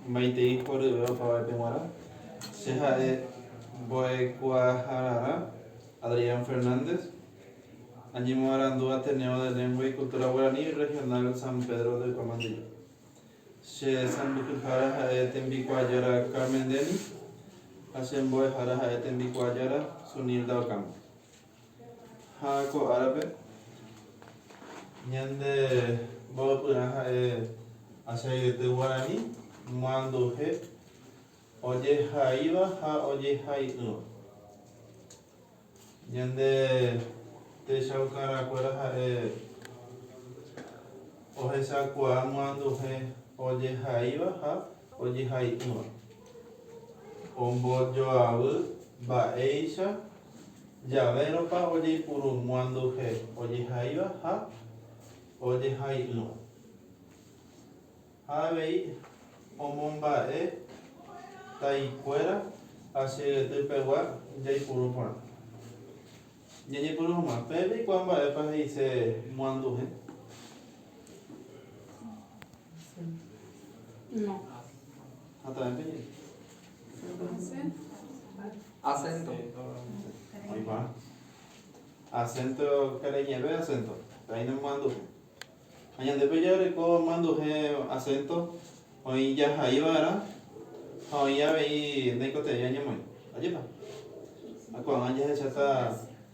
Maitei oryve opavaépe g̃uarã. Che ha'e mbo'ekuaahararã Adrián Fernández, añemoarandu Ateneo de Lengua y Cultura Guaraní Regional San Pedro de Guamandilla. Che sãmbyhyhára ha'e tembikuaajára Carmen Denny ha che mbo'ehára ha'e tembikuaajára Sunilda Ocampo. Ha ko árape, ñande mbovypyrã ha'e achairete guarani, manduhe, ojehaíva ha ojehai'ỹva. Ñande techaukarãkuéra ha'e ohechakuaa manduhe ojehaíva ha ojehai'ỹva, ombojoavy mba'éicha Javérõpa ojeipurumyanduhe ojehaíva ha ojehai'ỹva, ha avei omomba'e taikuéra asyeguetypegua jaipuru porã. Ñañepyrũ hag̃ua, Peẽ peikuaa mba'épa he'ise myanduhe? Hatãve peñe'ẽ. Acento. Oĩpa. Acento karai ñe'ẽve acento. Pe'aína manduhe. Ha ñande pe jaguereko manduhe acento oĩ jahaiva'erã ha oĩ avei ndaikotevẽi añemoĩ. Ajépa. Ha ko'ág̃a jahecháta.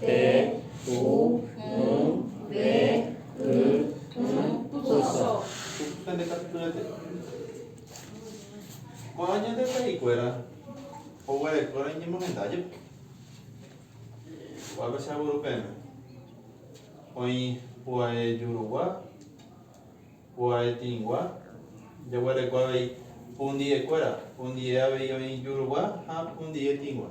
Pe, pu, mu, ve, y, y, puso. Pende katu py'aite. Ko'ã ñande pa'i kuéra oguerekóra iñemohenda jepe. Ko'ã pe seguro peẽme. Oĩ pu'ae jurugua, pu'ae tĩgua, jaguereko avei pundie kuéra. Pundie avei oĩ jurugua ha pundie tĩgua.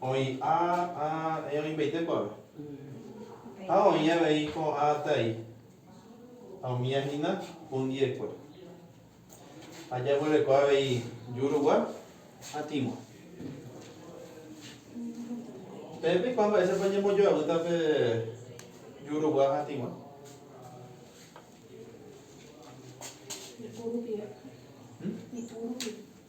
Oĩ a, a, e oĩpaite kuave. Ha oĩ avei ko a tai, ha umi a hína hundiekue. Ha jaguereko avei jurugua ha tĩgua. Peẽ peikuaa mba'éichapa ñembojoavýta pe jurugua ha tĩgua? Ipu rupive. Hm? Ipu rupive.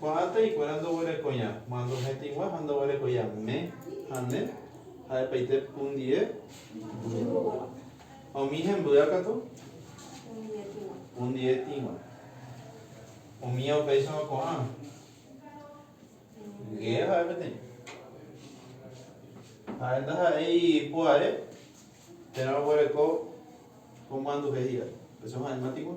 Ko'ág̃a hikuéra ndoguerekoi'ã ma ndohẽtĩgua ha ndoguerekoi'ã me ha ne ha'epaite pundie pundieguagua. Ha umi hembýa katu pundietigua. Umíva upéichama ko'ã ge ha'e peteĩ. Ha'e ndaha'éi pu'ae térã oguereko ko manduhe hi'ári. Péicha ha'e matigua.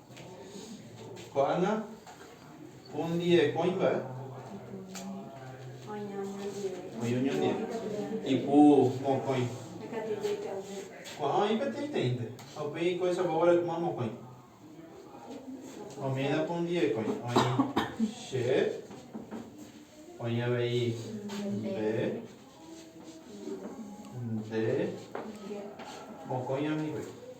Ko'ág̃a ondivekoĩmba'e oĩ oñondive ipu mokõi. Ko'ã oĩ peteĩteĩnte ha upéi oiko'esagua guarekuma mokõi. Omína ku ondivekoĩ oĩ che, oĩ avei nde, nde, mokõi oĩ hikuái.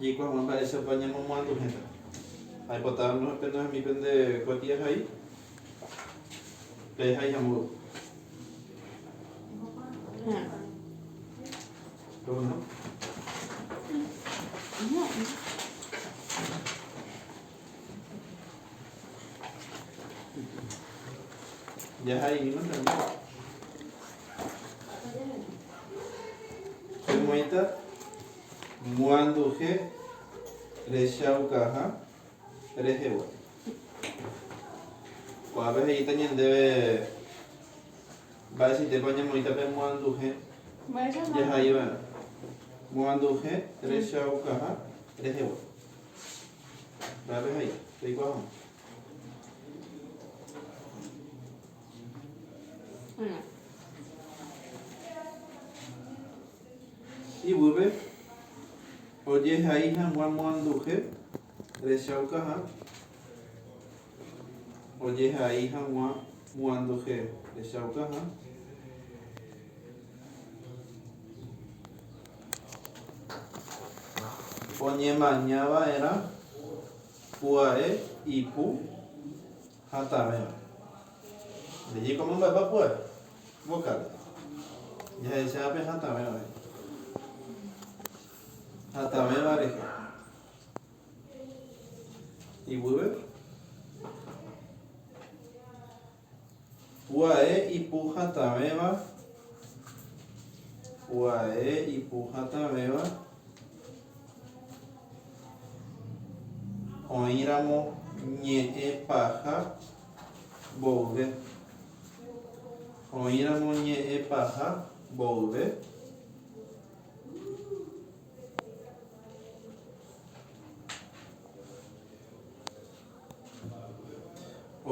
Jaikuaáma mba'éichapa ñamomoanduhẽta. Aipota amoĩ pende umi pende kuatiahai, pe haiha mboy. Pemoĩta. Moanduhe rechaukaha rehegua. Ko'ápe he'íta ñandéve mba'eichaitépa oñemoĩta pe moanduhe jahai va'erã. Moanduhe rechaukaha rehegua. Mba'épe he'íta? Reikuaa hag̃ua. Bueno. Iguýpe, ojehai hag̃ua moanduhe rechaukaha, ojehai hag̃ua moanduhe rechaukaha. Oñemaña va'erã pya'e ipu. Hatãvéva. Nde jeikóma mba'épa pu'ae. Vokál. Jahecháva pe hatãvéva rehe. Hatãvéva rehe. Iguýpe. Pu'ae ipu hatãvéva. Pu'ae ipu hatãvéva. Oĩramo ñe'ẽ paha mboyve. Oĩramo ñe'ẽ paha mboyve.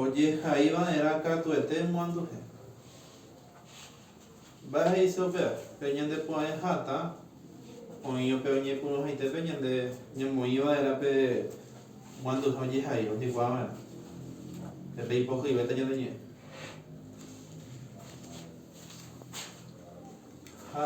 Ojehaiva'erã katuete moanduhe. Mba'éicha upéva? Pe ñande pu'ãe hatã oĩ upe oñepyrũhaitépe ñande ñamoĩ va'erã pe guanduha ojehai ojegua va'erã, pe peipohyivéta ñande ñe'ẽ. Ha.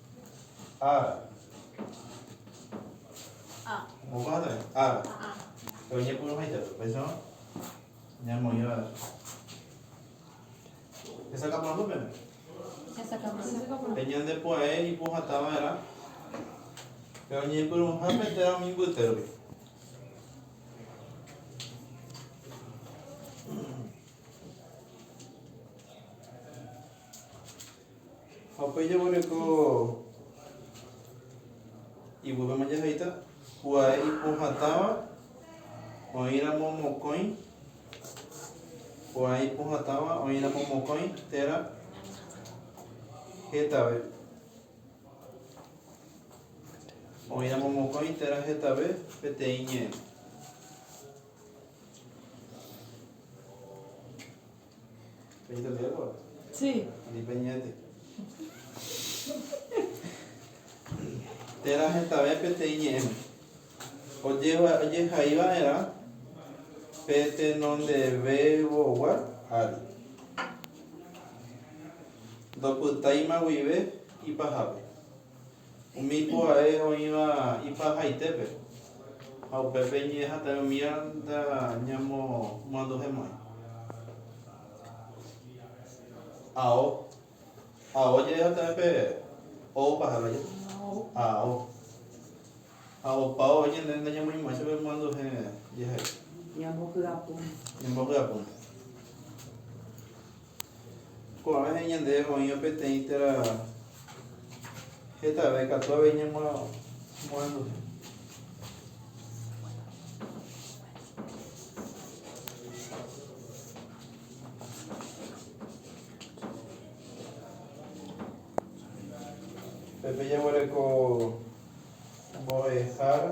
Ára. Moõpa ha'e también. Ára. Pe oñepyrũ haita pe. Upéicharõ ñamoĩva hesakãporãmby pene. Hesakãporãmby. Pe ñande pu'ae ipohatã va'erã pe oñepyrũha pe téra umi mbyte rupi. Ha upéi jaguereko ivúpema jahaita kuae ipohatãva oĩramo mokõi, kuae ipohatãva oĩramo mokõi térã hetave, oĩramo mokõi térã hetave peteĩ ñe'ẽ. Térã hetave peteĩ ñe'ẽme ojehai va'erã pe tenondevevogua ári, ndopytáima guive ipahápe. Umi pu'ae oĩva ipahaitépe, ha upépe ñe'ẽhatãve umíva ñamomoanduhe mokõi. Ao. Ao je'ẽhatãve pe O opaha vaje, ao. Ha opa oĩ ñande ndañamoĩmo'ãicha pe moanduhe jehai. Ñambohyapúnte. Ko'ã rehe ñande oĩva peteĩ téra hetave katu avei ñamorenduha. Pepe jaguereko mbo'ehára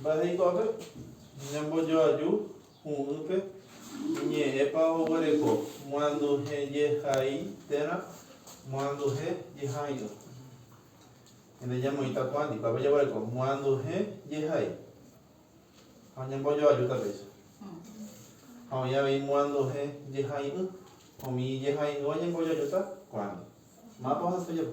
Mba'e hikuápe ñambojoaju hu'ỹpe iñe'ẽpa oguereko moanduhejehai térã moanduhe jehaíva. Ende ñamoĩta ko'ã ndikuápe jaguereko moanduhe jehai ha ñambojoaju tapéicha. Ha oĩ avei moanduhe jehai'ỹ. Umi jehai'ỹva ñambojoajúta ko'ándi. Mápa ohasa ojapo?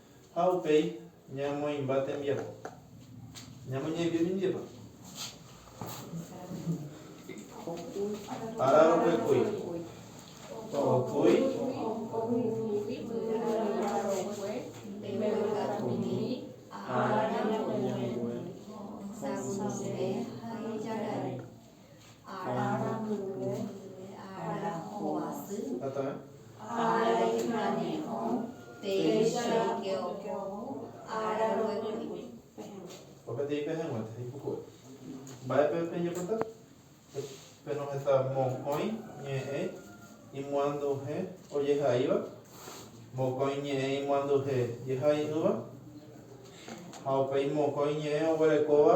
Ha upéi ñamoĩmba tembiapo. Ñamoñe'ẽmby mindépa? Ára roguekúi. Okúi. Ára mbyve, ára hovasy, ára iñañe'õ, péicha ike okoho, ára roguekui. Opaitei pehẽnguénte ipuku'e. Mba'épe pejapóta? Penoheta mokõi ñe'ẽ imoanduje ojehaíva, mokõi ñe'ẽ imoanduje jehai'ỹva, ha upéi mokõi ñe'ẽ oguerekóva.